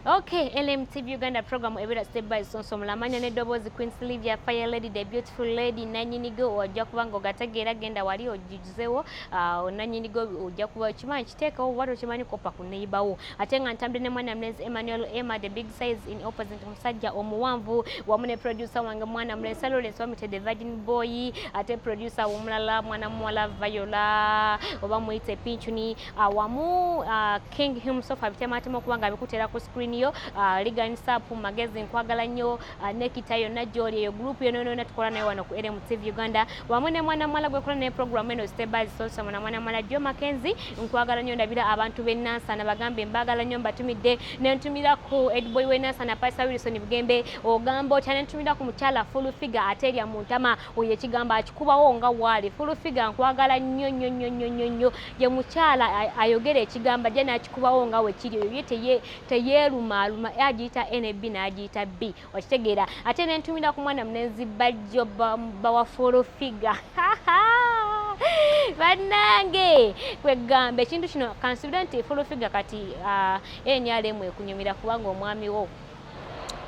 ok lmtv uganda program ebera step by sonso mulamanya neddoboozi queen sylvia fire lady the beautiful lady nanyinigo ojja kuba nga ogategeera genda wali ojuzewo ah, nanyinigo ojja kuba okimanyi kiteekawo oba tokimanyi koppa ku neyibawo ate nga ntambire ne mwana mulezi emmanuel emma the big size in opposite omusajja omuwanvu wamu ne producer wange mwana mulesa lawrence wamute the virgin boy ate producer womulala mwana muwala viola oba muyite pinchuni ah, wamu ah, King himself abitemaatema okuba nga abikutera ku screen yo uh, Ligan Sap magezi nkwagala nnyo uh, nekita yonna gyoli eyo group yona yona tukola nayo wano ku LM TV Uganda wamu ne mwana mwala gwe kola naye program eno step by step so mwana mwana mwala Joe Mackenzie nkwagala nnyo ndabira abantu be Nansa na bagambe mbagala nnyo mbatumidde ne ntumira ku Edboy we Nansa na Pastor Wilson Bugembe ogamba otya ne ntumira ku mukyala full figure ateria muntama oyo ekigambo akikubawo nga waali fulufiga nkwagala nnyo nnyo nnyo nnyo nnyo nnyo ye mukyala ayogera ekigambo ajja n'akikubawo nga wekiri oyo ye teyeerumaaluma agiyita nb n'agiyita b okitegeera ate ne ntumira ku mwana munenzi bajjo bawa fulufiga bannange kwegamba ekintu kino kansubire nti fulufiga kati ah, nrm ekunyumira kubanga omwami wo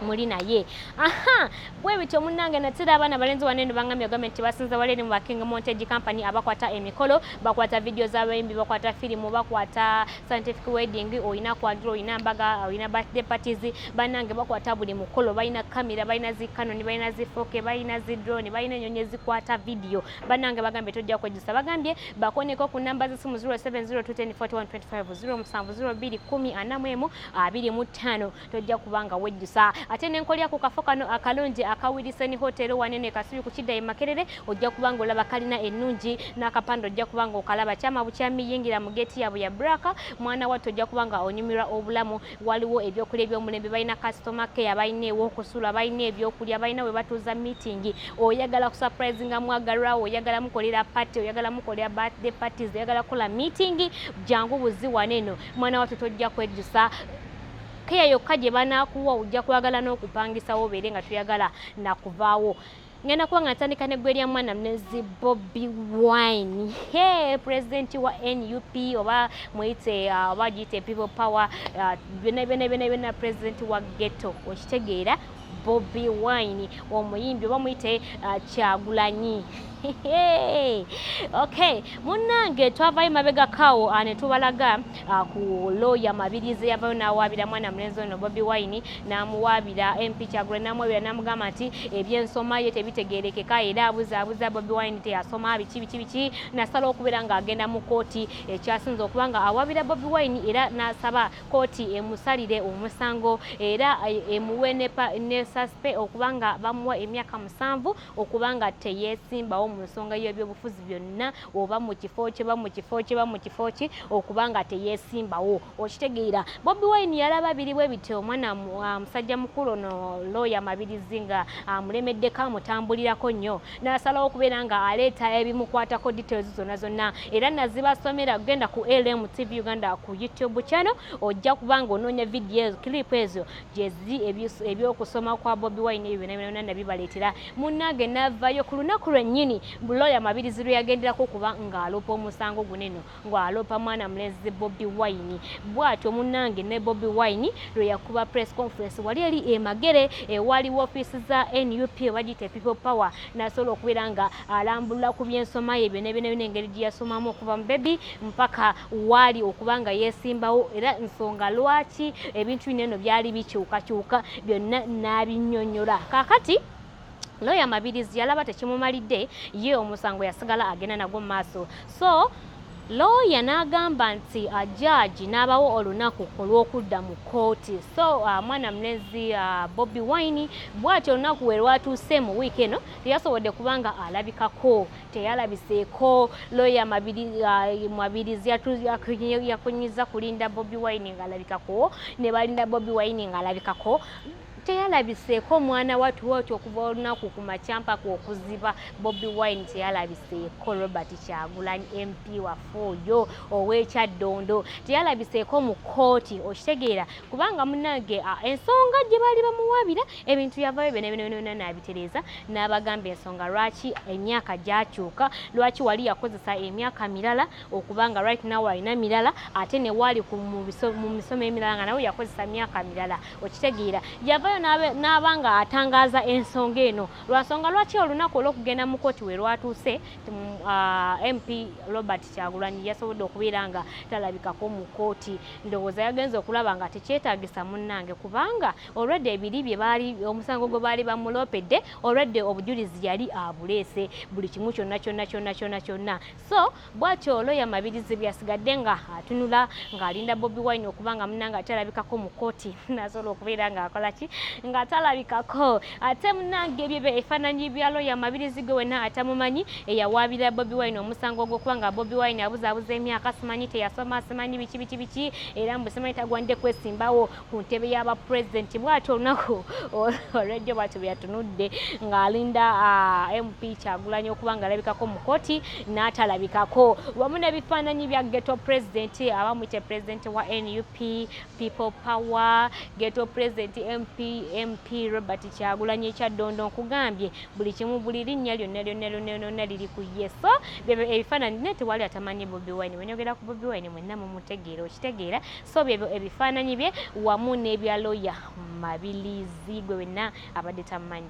muli naye aha bwe bityo munnange natera abaana balenzi wane no bangambye ogambye nti basinza waleri mu ba king montage company abakwata emikolo bakwata vidiyo z'abayimbi bakwata firimu bakwata scientific wedding olina kwanjula olina mbaga olina birthday parties bannange bakwata buli mukolo balina kamera balina zi canon balina zi foke balina zi drone balina enyonyi ezikwata vidiyo bannange bagambye tojja kwejjusa bagambye bakoneko ku namba z'essimu 0702104125 0702104125 abiri mu ttaano tojja kuba nga wejjusa ate nenkolya ku kafo kano akalungi aka wilisoni hotel wanene kasubi ku kidda e makerere ojja kuba nga olaba kalina ennungi n'akapande ojja kuba nga okalaba kyama bukyami yingira mu geeti yaabwe ya braka mwana wattu ojja kuba nga onyumirwa obulamu waliwo ebyokulya ebyomulembe balina kasitoma keya balina ewokusula balina ebyokulya balina we batuuza miitingi oyagala kusupurizinga mwagalwawo oyagala mukolera pati oyagala mukolera birthday parties oyagala kukola miitingi jangu buziwana eno mwana wattu tojja kwejjusa keya yokka gye banaakuwa ojja kwagala n'okupangisawo obeere nga toyagala nakuvaawo ngenda kuba nga ntandika neggwe lya mwana mnezi bobi wine he president wa nup oba muyite uh, oba giyite people power uh, byona byona byona byona president wa ghetto okitegeera Bobi Wine omuyimbi oba muyite uh, Kyagulanyi okay munnange twavayo mabega kawo uh, ne tubalaga uh, ku looya mabirizi yavayo n'awaabira mwana mulenzi ono Bobi Wine n'amuwaabira MP Kyagulanyi n'amuwaabira n'amugamba nti ebyensoma ye tebitegeerekeka era abuzaabuza Bobi Wine teyasoma biki biki biki nasala okubeera ng'agenda mu kkooti ekyasinze okuba nga awaabira Bobi Wine era n'asaba kkooti emusalire omusango era emuwe ne saspe okuba nga bamuwa emyaka musanvu okuba nga teyeesimbawo mu nsonga y'ebyobufuzi byonna oba mu kifo kye ba mu kifo kye ba mu kifo kye okuba nga teyeesimbawo okitegeera bobi wine yalaba biri bwe bityo omwana ah, musajja mukulu ono looya mabirizi nga amulemeddeko ah, amutambulirako nnyo nasalawo okubeera nga aleeta ebimukwatako details zonna zonna era nazibasomera genda ku lm tv uganda ku youtube channel ojja kuba nga onoonya vidiyo clip ezo gyezi ebyokusoma kwa bobi wine ebyo byonabyonabyona nabibaleetera munnange navayo ku lunaku lwennyini looya mabirizi lwe yagenderako okuba ng'aloopa omusango guneno ngo alopa mwana mulezi Bobby Wine bwatyo munange ne Bobby Wine lwe yakuba press conference wali eli emagere ewali office za NUP bajite people power nasobola okubeera nga alambulula ku byensoma ye byona byona byona engeri gye yasomamu okuva mu baby mpaka waali okuba nga yeesimbawo era nsonga lwaki ebintu bino eno byali bikyukakyuka byonna n'abinyonyola kakati looya mabirizi yalaba tekimumalidde ye omusango yasigala agenda nagwo mu maaso so looya n'agamba nti ah, jaaji n'abawo olunaku olw'okudda mu kkooti so ah, mwana mulenzi ah, bobi wine bwati olunaku we lwatuuse mu wiiki eno teyasobodde kubanga alabikako teyalabiseeko looya mwabirizi yakunyiza kulinda bobi wine ng'alabikako ne balinda bobi wine ng'alabikako teyalabiseeko omwana watu watu okuva olunaku ku makyampaka okuziba bobi wine teyalabiseeko robert kyagulanyi mp waffe oyo owekyaddondo teyalabiseeko mu kooti okitegeera kubanga munange ensonga gye baali bamuwabira ebintu yavayo byonabyonabyonabyona naabitereeza n'abagamba ensonga lwaki emyaka gyakyuka lwaki wali yakozesa emyaka mirala okubanga right now alina mirala ate newaali mu misomo emirala nga nawe yakozesa myaka mirala okitegeera yavayo n'aba nga atangaaza ensonga eno lwansonga lwaki olunaku olwokugenda mu kooti we lwatuuse mm, ah, mp robert kyagulanyi yasobodde okubeera nga talabikako mu kooti ndowooza yagenza okulaba nga tekyetagisa munnange kubanga olwedde ebiri bye baali omusango gwe baali bamuloopedde olwedde obujulizi yali abuleese buli kimu kyonna kyonna kyonna kyonna kyonna so bwatyo looya mabirizi bweyasigadde nga atunula ng'alinda bobi wine okuba nga munange ate alabikako mu kkooti nasobola okubeera ng'akola ki nga atalabikako ate munange ebyo bye efaananyi bya looya mabirizi gwe wena atamumanyi eyawaabira bobi wine omusango ogwokuba nga bobi wine abuzaabuza emyaka simanyi teyasoma simanyi biki biki biki era mbu simanyi tagwande kwesimbawo ku ntebe y'aba pulezidenti bwati olunaku olwejjo bwati bwe yatunudde ng'alinda mp kyagulanyi okuba ng'alabikako mu kkooti n'atalabikako wamu n'ebifaananyi bya geto pulezidenti abamwite pulezidenti wa nup people power geto pulezidenti mp mp robert kyagulanyi ekyaddondo nkugambye buli kimu buli linnya lyonna lyonna lyonna lyonna liri ku ye so ebifaananyi naye tewali atamanyi bobi wine wenyogera ku bobi wine mwenna mumutegeera okitegeera so byebyo ebifaananyi bye wamu n'ebya looya Mabilizi gwe wenna abadde tammanyi.